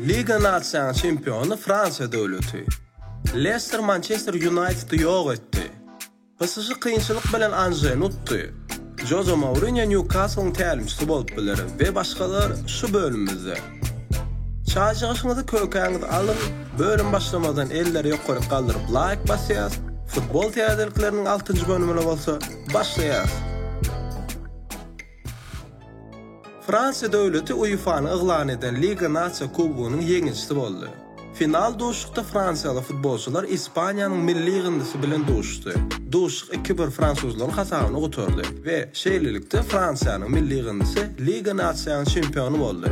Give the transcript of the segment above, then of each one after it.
Liga nasiýanyň çempiony Fransiýa döwleti. Lester Mançester Ýunaýtedy ýok etdi. PSŽ kynçylyk bilen Anženi utdy. Joze Mourinýo Nýukaslyň tälimçisi bolup biler we başgalar şu bölümimizde. Çaýjygyşyňyzy kökäňizi alyň, bölüm başlamazdan elleri ýokaryk galdyryp laýk basýas, futbol täzelikleriniň altynjy bölümine bolsa başlaýas. Fransiýa döwleti UEFA-nyň yglan eden Liga Nasiýa kubogynyň ýeňijisi boldy. Final duşuşykda fransiýaly futbolçylar Ispaniýanyň milli ýygyndysy bilen duşuşdy. Duşuşyk iki-bir fransuzlaryň hasabyna gutardy we şeýlelikde Fransiýanyň milli ýygyndysy Liga Nasiýanyň çempiony boldy.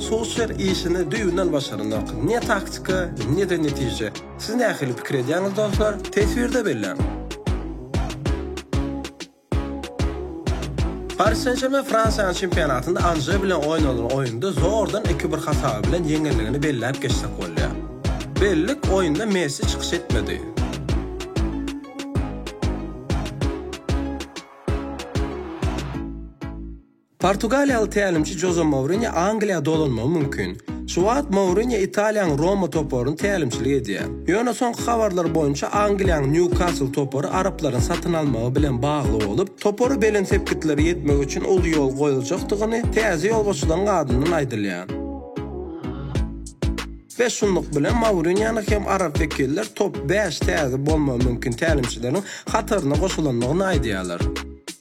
Solşer işini düýbünden başaranok. Ne taktika, ne-de netije. Siz nähili pikir edýäňiz dostlar? Teswirde belläň. Paris Sen-Žermen Fransiýanyň çempionatynda Anje bilen oýnalan oýunda zordan iki bir hasaby bilen ýeňendigini belläp geçsek bolýar. Bellik oýunda Messi çykyş etmedi. Portugaliýaly tälimçi Joze Mourinýo Angliýa dolanmagy mümkin. Şu wagt Mourinýo Italiýanyň Roma toparyny tälimçilik edýär. Ýöne soňky habarlar boýunça Angliýanyň Nýukasl topary araplaryň satyn almagy bilen bagly bolup, topary belent sepgitlere ýetmek üçin uly ýol goýuljakdygyny täze ýolbaşçylaryň adyndan aýdylýar. Bäş şunluk bilen Mourinýonyň hem arap wekiller top bäş täze bolmagy mümkin tälimçileriň hataryna goşulandygyny aýdýarlar.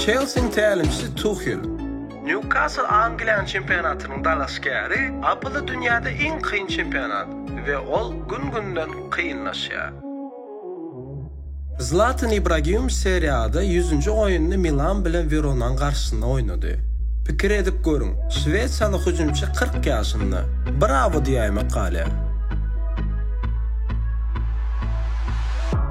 Çelsiniň tälimçisi Tuhel. Nýukasl Angliýanyň çempionatynyň dalaşgäri, APL dünýäde iň kyn çempionat we ol gün-günden kynlaşýar. Zlatan Ibragimowiç Serie A-da ýüzünji oýnuny Milan bilen Weronaň garşysynda oýnady. Pikir edip görüň, şwesiýaly hüjümçi kyrk ýaşynda. Brawo diýäýmek galýar.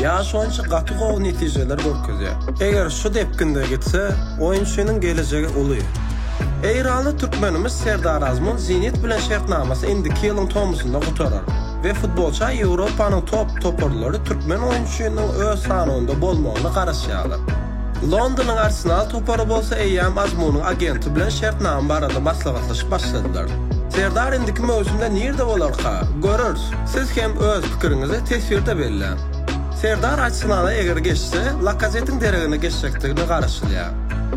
Ýaş oýunçy gaty gowy netijeler görkezýär. Eger şu depginde gitse, oýunçynyň gelejegi uly. Eýranly türkmenimiz Serdar Azmun Zenit bilen şertnamasy indiki ýylyň tomusynda gutarar we futbolça Ýewropanyň top toparlary türkmen oýunçynyň öz sanawynda bolmagyna garaşýarlar. Londonyň Arsenal topary bolsa eýýäm Azmunyň agenti bilen şertnama barada maslahatlaşyp başladylar. Serdar indiki möwsümde nirde bolarka? Görers. Siz hem öz pikiriňizi teswirde belläň. Serdar Arsenala eger geçse, Lakazetiň deregine geçjekdigine garaşylýar.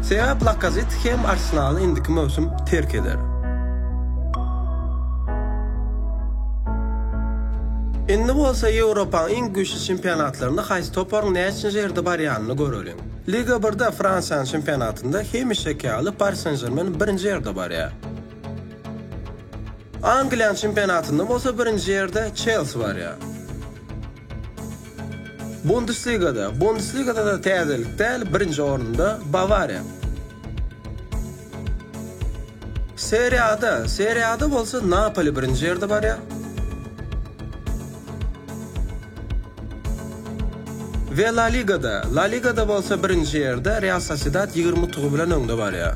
Sebäp Lakazet hem Arsenaly indiki möwsüm terk eder. Indi bolsa Ýewropaň iň güýçli çempionatlarynda haýsy toparyň näçinji ýerde barýanyny göreliň. Liga birde Fransiýanyň çempionatynda hemişeki ýaly Pari Sen-Žermen birinji ýerde barýar. Angliýanyň çempionatynda bolsa birinji ýerde Çelsi barýar. Bundesligada, Bundesligada-da täzelik däl, birinji orunda Bawariýa. Serie A-da, Serie A-da bolsa Napoli birinji ýerde barýar. We La Ligada, La Ligada bolsa birinji ýerde Real Sosiedad ýigrimi utugy bilen öňde barýar.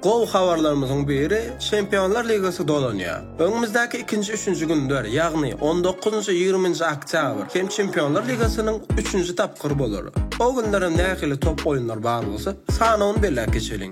Gowy habarlarymyzyň biri, Çempionlar ligasy dolanýar. Öňümizdäki ikinji-üçünji günler, ýagny on dokuzynjy, ýigriminji oktýabr hem Çempionlar ligasynyň üçünji tapgyry bolar. O günler hem nähili top oýunlary bar bolsa, sanawyny belläp geçeliň.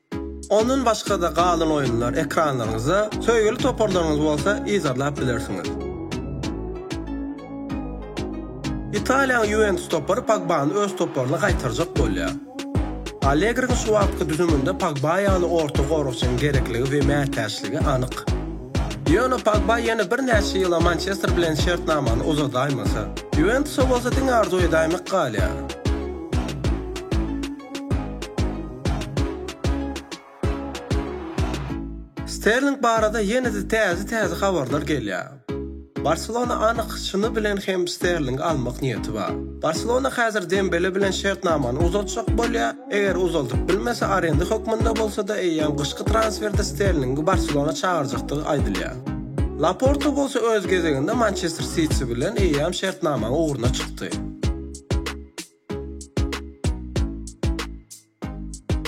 Ondan başga-da galan oýunlar ekranlaryňyzda, söýgüli toparlaryňyz bolsa yzarlap bilersiňiz. Italiýanyň Ýuwentus topary Pogbany öz toparyna gaýtarjak bolýar. Allegriň şu wagtky düzüminde Pogba ýaly orta goragçynyň gerekligi we mätäçligi anyk. Ýöne Pogba ýene birnäçe ýyla Mançester bilen şertnamany uzadaýmasa, Ýuwentusa bolsa diňe arzuw edäýmek galýar. Sterling barada ýene-de täze-täze habarlar gelýär. Barselona anyk çyny bilen hem Sterlingi almak niýeti bar. Barselona häzir Dembele bilen şertnamany uzaltjak bolýar, eger uzaldyp bilmese, arenda hökmünde bolsa-da, eýýäm gyşky transferde Sterlingi Barselona çagyrjakdygy aýdylýar. Laporta bolsa öz gezeginde Mançester Siti bilen eýýäm şertnamaň ugruna çykdy.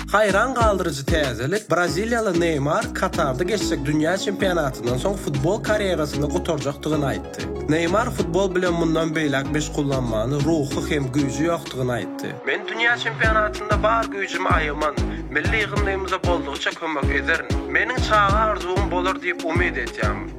Haýran galdyryjy täzelik, braziliýaly Neýmar Katarda geçjek dünýä çempionatyndan soň futbol karýerasyny gutarjakdygyny aýtdy. Neýmar futbol bilen mundan beýläk meşgullanmagyna ruhy hem güýji ýokdugyny aýtdy. Men dünýä çempionatynda bar güýjümi aýaman, milli ýygyndymyza boldugyça kömek ederin. Meniň çaga arzuwym bolar diýip umyt edýärin.